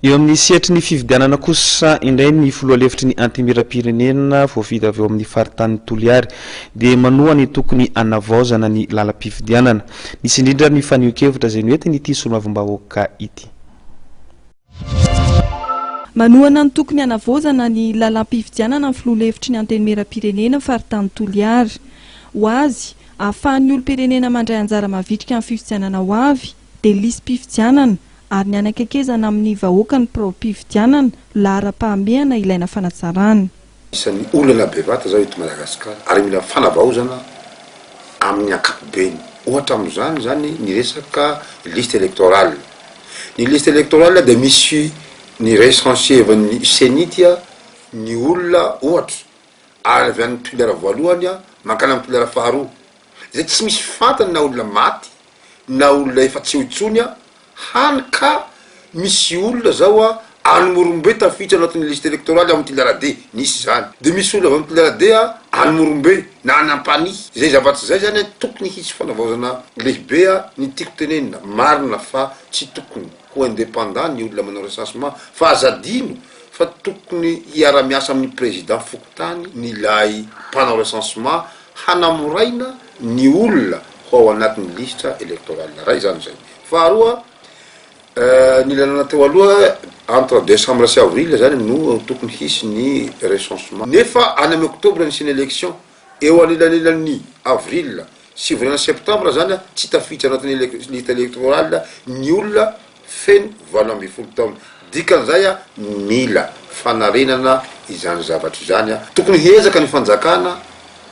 Eo amin'ny sehatry ny fifidianana kosa indray ny filoha lefitry ny Antenimierampirenena voafidy avy ao amin'ny faritanin'i Toliary dia manoa ny tokony hanavaozana ny lalam-pifidianana. Nisy indrindra ny fanehoan-kevitra izay noentin'ity solombavambahoaka ity. Manohana ny tokony hanavaozana ny lalam-pifidianana ny filoha lefitry ny Antenimierampirenena faritanin'i Toliary. Ho azy, ahafahan'ny olom-pirenena mandray anjara mavitrika amin'ny fifidianana ho avy, dia lisi-pifidianana ary ny hanakaikezana amin'ny vahoaka ny biraom-pifidianana laharam-pahamehana ilaina fanatsarana. Isan'ny olana bevata izao eto Madagasikara ary mila fanavaozana amin'ny ankapobeny. Ohatra amin'izany izany ny resaka liste électorale. Ny liste électorale dia misy ny recensier-n'ny ceni ity ny olona ohatra ary avy any Toliara voalohany mankany amin'ny Toliara faharoa izay tsy misy fantany na olona maty na olona efa tsy eo intsony a, hany ka misy olona zao a, any Morombe tafiditra anatin'ny liste electorale ao amin'ny Tilarade, nisy izany, dia misy olona avy amin'ny Tilarade a, any Morombe, na any Ampanihy, izay zava-tsy izay izany a, tokony hisy fanavaozana lehibe a, ny tiako tenenina, marina fa tsy tokony ho indépendant ny olona manao recensement, fa aza adino fa tokony hiara-miasa amin'ny Président fokontany ny ilay mpanao recensement hanamoraina ny olona ho ao anatin'ny lisitra electoral iray izany izay. Faharoa, ny lalana teo aloha entre décembre sy avril izany no tokony hisy ny recensement, nefa any amin'ny octobre no hisian'ny élection, eo anelanelan'ny avril sy volana septembre izany tsy tafiditra anatin'ny lista electoral ny olona feno valo ambin'ny folo taona. Dikan'izay a mila fanarenana izany zavatra izany a. Tokony hiezaka ny fanjakana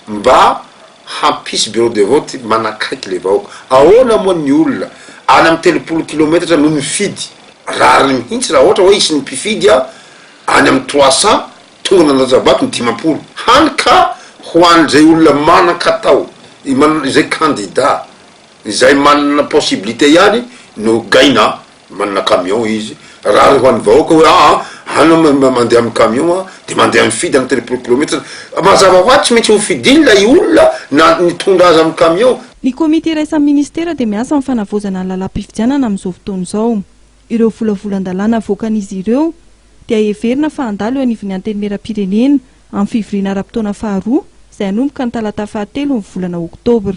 mba hampisy bureau de vote manakaiky le vahoaka. Ahoana moa ny olona any amin'ny telopolo kilometatra no mifidy? Rariny mihintsy raha ohatra hoe hisy ny mpifidy a any amin'ny trois cents tonga nandatsabato ny dimampolo. Hany ka ho an'izay olona manan-katao, izay kandida. Izay manana possibilité ihany no gaina, manana camion izy, rariny ho an'ny vahoaka hoe aa anao mandeha amin'ny camion a, dia mandeha mifidy amin'ny telopolo kilometatra, mazava hoazy tsy maintsy hofidiny ilay olona na nitondra azy amin'ny camion. Ny komity iraisan'ny minisitera dia miasa amin'ny fanavaozana ny lalam-pifidianana amin'izao fotoana izao. Ireo volavolan-dalàna avoakan'izy ireo dia heverina fa handalo eo anivon'ny Antenimierampirenena amin'ny fivoriana ara-potoana faharoa izay hanomboka ny talata fahatelo ny volana oktobra.